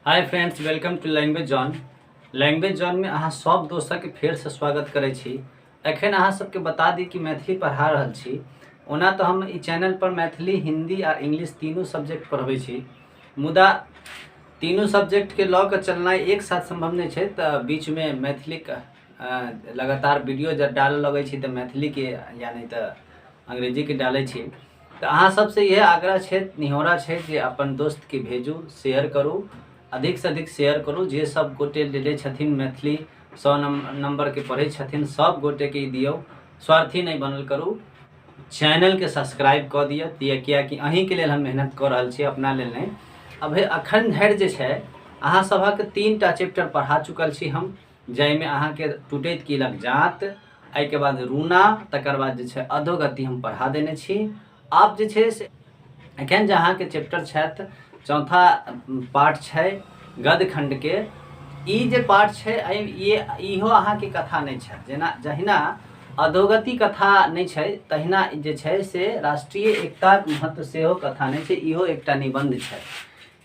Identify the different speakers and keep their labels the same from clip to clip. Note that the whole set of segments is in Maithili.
Speaker 1: hi friends welcome to language zone language zone में अहाँ सब दोस्तक फेर से स्वागत करै छी एखन अहाँ सबके बता दी कि मैथिली पढ़ा रहल छी ओना तऽ हम ई चैनल पर मैथिली हिंदी आ इंग्लिश तीनू सब्जेक्ट पढ़बै छी मुदा तीनू सब्जेक्ट के लऽ कऽ चलनाइ एक साथ संभव नहि छै तऽ बीच में मैथिली के अ, लगातार वीडियो जब डालऽ लगै छी तऽ मैथिली के या नहि तऽ अंग्रेजी के डालै छी तऽ अहाँ सबसँ इहे आग्रह छै निहोरा छै जे अपन दोस्तके भेजू शेयर करू अधिकसँ अधिक शेयर करू जे सब गोटे लेले छथिन मैथिली सौ नम्बरके पढ़ै छथिन सब गोटेके ई दियौ स्वार्थी नहि बनल करू चैनलके सब्सक्राइब कऽ दिअ दिअ किएकि अहींके लेल हम मेहनत कऽ रहल छी अपना लेल नहि अब अखन धरि जे छै अहाँ सभक तीन टा चैप्टर पढ़ा चुकल छी हम जाहिमे अहाँके टूटैत कीलक जात एहिके बाद रूना तकर बाद जे छै अधोगति हम पढ़ा देने छी आब जे छै से एखन जे अहाँके चैप्टर छथि चौथा पाठ छै गद खण्डके ई जे पाठ छै ई इहो अहाँके कथा नहि छै जेना जहिना अधोगति कथा नहि छै तहिना जे छै से राष्ट्रीय एकताक महत्व सेहो कथा नहि छै इहो एकटा निबन्ध छै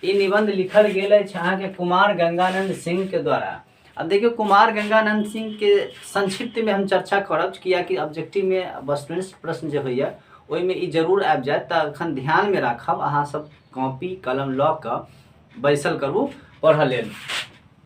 Speaker 1: ई निबंध लिखल गेल अछि अहाँके कुमार गंगानंद सिंह के द्वारा अब देखियो कुमार गंगानंद सिंह के संक्षिप्त में हम चर्चा करब कियाकि ऑब्जेक्टिव में वस्तुनिष्ठ प्रश्न जे होइए ओहिमे ई जरूर आबि जायत तऽ एखन ध्यान में राखब अहाँ सब कॉपी कलम लऽ कऽ बैसल करू पढ़ऽ लेल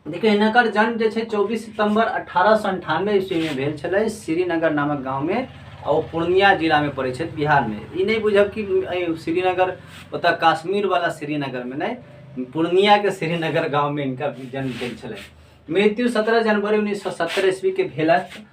Speaker 1: देखियौ हिनकर जन्म जे छै चौबीस सितम्बर अठारह सए अन्ठानवे ईस्वीमे भेल छलै श्रीनगर नामक गाँवमे आ ओ पूर्णिया जिलामे पड़ै छथि बिहारमे ई नहि बुझब कि एहि श्रीनगर ओतऽ काश्मीरवला श्रीनगरमे नहि पूर्णियाके श्रीनगर गाँवमे हिनका जन्म भेल छलै मृत्यु सत्रह जनवरी उन्नैस सए सत्तर ईस्वीके भेलनि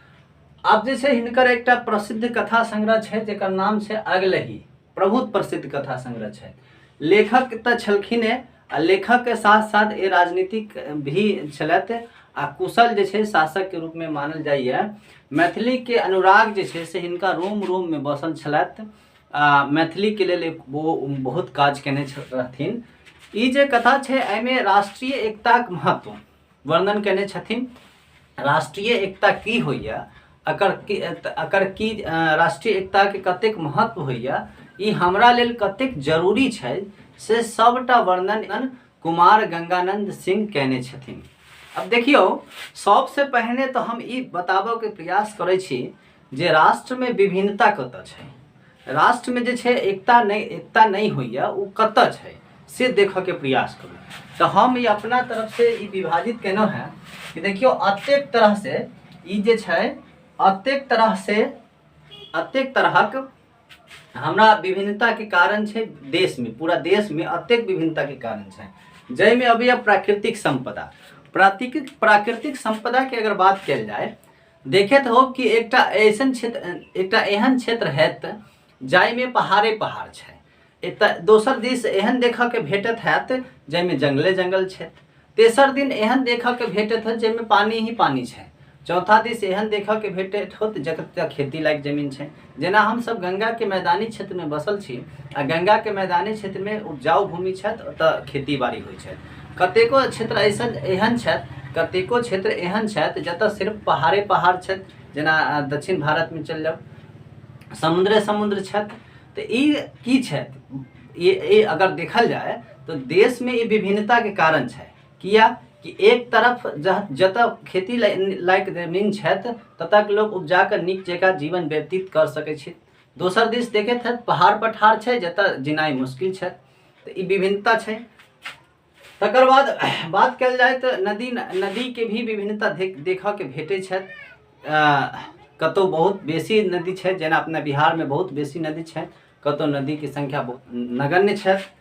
Speaker 1: आब जे छै हिनकर एकटा प्रसिद्ध कथा संग्रह छै जकर नाम छै अगलही बहुत प्रसिद्ध कथा संग्रह छै लेखक तऽ छलखिन हे आ लेखक के साथ साथ ए राजनीतिक भी छलथि आ कुशल जे छै शासक के रूप में मानल जाइए मैथिली के अनुराग जे छै से हिनका रोम रोम में बसल छलथि आ मैथिली के लेल एक वो बहुत काज केने छ- रहथिन ई जे कथा छै एहिमे राष्ट्रीय एकताक महत्व वर्णन केने छथिन राष्ट्रीय एकता की होइए अकर की अकर की राष्ट्रीय एकताके कतेक महत्व होइए ई हमरा लेल कतेक जरूरी छै से सबटा वर्णन कुमार गंगानंद सिंह केने छथिन अब देखियो सबसे पहले तो हम ई बताबऽ के प्रयास करै छी जे राष्ट्रमे विभिन्नता कतऽ छै राष्ट्रमे जे छै एकता नहि एकता नहि होइए ओ कतऽ छै से देखऽके प्रयास करू तऽ हम ई अपना तरफसँ ई विभाजित केलहुँ हेँ कि देखियौ अतेक तरहसँ ई जे छै अतेक तरहसँ अतेक तरहक हमरा विभिन्नताके कारण छै देशमे पूरा देशमे अतेक विभिन्नताके कारण छै जाहिमे अबैए प्राकृतिक सम्पदा प्राकृतिक प्राकृतिक सम्पदाके अगर बात कयल जाय देखैत होब कि एकटा ऐसन क्षेत्र एकटा एहन क्षेत्र हैत जाहिमे पहाड़े पहाड़ छै एतऽ दोसर दिस एहन देखऽके भेटत हैत जाहिमे जंगले जंगल छै तेसर दिन एहन देखऽके भेटत हैत जाहिमे पानि ही पानि छै चौथा दिस एहन देखऽके भेटैत होत जतऽ खेती लायक जमीन छै जेना हमसभ गङ्गाके मैदानी क्षेत्रमे बसल छी आ गङ्गाके मैदानी क्षेत्रमे उपजाउ भूमि छथि ओतऽ खेती बाड़ी होइ छथि कतेको क्षेत्र ऐसन एहन छथि कतेको क्षेत्र एहन छथि जतऽ सिर्फ पहाड़े पहाड़ छथि जेना अ, दक्षिण भारतमे चलि जाउ समुद्रे समुद्र छथि तऽ ई की छथि ई ई अगर देखल जाय तऽ देशमे ई विभिन्नताके कारण छै किया कि एक तरफ जतऽ खेती लायक जमीन छथि ततऽ के लोक उपजा कऽ नीक जकाँ जीवन व्यतीत कऽ सकैत छथि दोसर दिस देखैत छथि पहाड़ पठार छै जतऽ जिनाइ मुश्किल छथि तऽ ई विभिन्नता छै तकर बाद बात कयल जाय तऽ नदी नदीके भी विभिन्नता देखऽके भेटैत छथि कतहुँ बहुत बेसी नदी छथि जेना अपना बिहारमे बहुत बेसी नदी छथि कतहुँ नदीके सङ्ख्या बहुत नगण्य छथि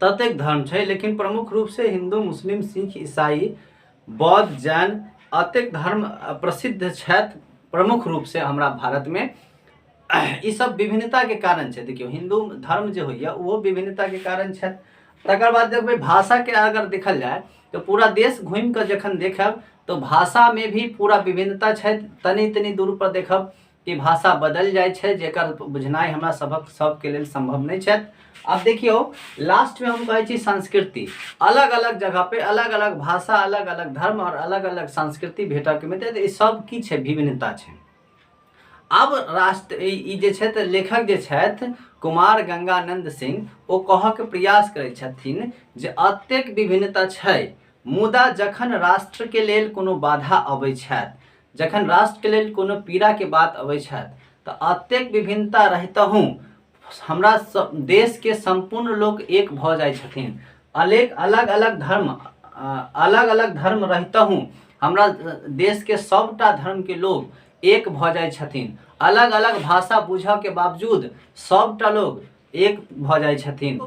Speaker 1: ततेक धर्म छै लेकिन प्रमुख रूपसँ हिन्दू मुस्लिम सिक्ख ईसाई बौद्ध जैन अतेक धर्म प्रसिद्ध छथि प्रमुख रूपसँ हमरा भारतमे ई सब विभिन्नताके कारण छै देखियौ हिन्दू धर्म जे होइए ओहो विभिन्नताके कारण छथि तकर बाद देखबै भाषाके अगर देखल जाय तऽ पूरा देश घूमि कऽ जखन देखब तऽ भाषामे भी पूरा विभिन्नता छथि तनी तनी दूर पर देखब कि भाषा बदलि जाइ छै जेकर बुझनाइ हमरा सभक सभके लेल सम्भव नहि छथि आब देखियौ लास्टमे हम कहै छी संस्कृति अलग अलग जगह पे अलग अलग भाषा अलग अलग धर्म आओर अलग अलग संस्कृति भेटऽके मिलतै तऽ ई सब की छै विभिन्नता छै आब राष्ट्र ई ई जे छथि लेखक जे छथि कुमार गंगानंद सिंह ओ कहऽके प्रयास करै छथिन जे अतेक विभिन्नता छै मुदा जखन राष्ट्रके लेल कोनो बाधा अबै छथि जखन राष्ट्रके लेल कोनो पीड़ाके बात अबै छथि तऽ अतेक विभिन्नता रहितहु हमरा सब देशके सम्पूर्ण लोक एक भऽ जाइ छथिन अलेक अलग अलग धर्म अलग अलग धर्म रहितहु हमरा देशके सबटा धर्मके लोक एक भऽ जाइ छथिन अलग अलग भाषा बुझऽके बावजूद सबटा लोक एक भऽ जाइ छथिन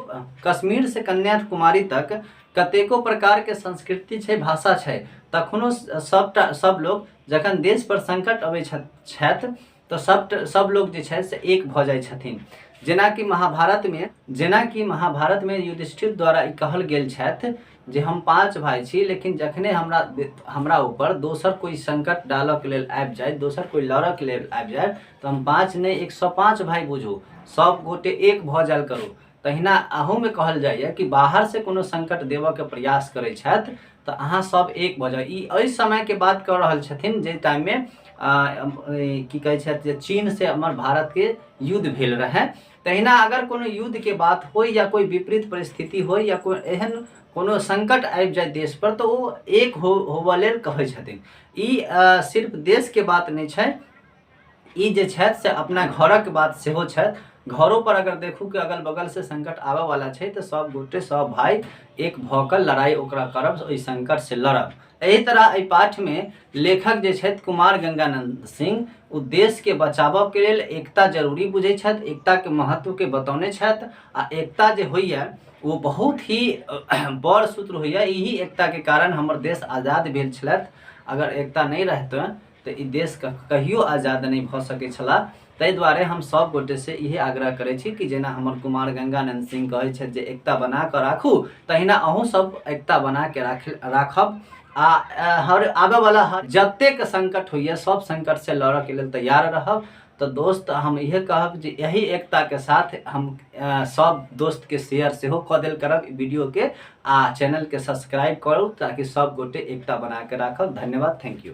Speaker 1: कश्मीर से कन्याकुमारी तक कतेको प्रकार के संस्कृति छै भाषा छै तखनो सबटा सब लोग जखन देश पर संकट अबै छथि तऽ सब सब लोग जे छै से एक भऽ जाइ छथिन जेनाकि महाभारत मे जेनाकि महाभारत मे युधिष्ठिर द्वारा ई कहल गेल छथि जे हम पाँच भाय छी लेकिन जखने हमरा हमरा ऊपर दोसर कोई संकट डालक लेल आबि जाय दोसर कोई लड़क लेल आबि जाय तऽ हम पाँच नहि एक सए पाँच भाय बुझू सब गोटे एक भऽ जायल करू तहिना अहूमे कहल जाइए कि बाहर से कोनो संकट देबऽ के प्रयास करै छथि तऽ अहाँ सब एक भऽ जाउ ई एहि समय के बात कऽ रहल छथिन जे टाइम मे की कहै छथि जे चीन से हमर भारत के युद्ध भेल रहै तहिना अगर कोनो युद्धके बात होइ या कोइ विपरीत परिस्थिति होइ या कोइ एहन कोनो संकट आबि जाय देश पर तऽ ओ एक हो होबऽ लेल कहै छथिन ई अ, सिर्फ देशके बात नहि छै ई जे छथि से अपना घरक बात सेहो छथि घरो पर अगर देखू कि अगल बगल से संकट आबऽ वाला छै तऽ सब गोटे सब भाई एक भऽ कऽ लड़ाई ओकरा करब ओहि संकट से लड़ब एहि तरह एहि पाठ में लेखक जे छथि कुमार गंगानंद सिंह ओ देश के बचाबऽ के लेल एकता जरूरी बुझै छथि एकता के महत्व के बतौने छथि आ एकता जे होइए ओ बहुत ही बड़ सूत्र होइए यही एकता के कारण हमर देश आजाद भेल छलथि अगर एकता नहि रहतै तऽ ई देश क- कहियो आजाद नहि भऽ सकै छला ताहि दुआरे हम सब गोटे से इहे आग्रह करै छी कि जेना हमर कुमार गंगानंद सिंह कहै छथि जे एकता बना कऽ राखू तहिना अहूँ सब एकता बना के राख राखब आ अ, हर आबे वाला हर जतेक संकट होइए सब संकट से लड़ऽ के लेल तैयार रहब तऽ दोस्त हम इहे कहब जे यही एकता के साथ हम अ, सब दोस्त के शेयर सेहो कऽ देल करब ई वीडियो के आ चैनल के सब्सक्राइब करू ताकि सब गोटे एकता बना के राखब धन्यवाद थैंक यू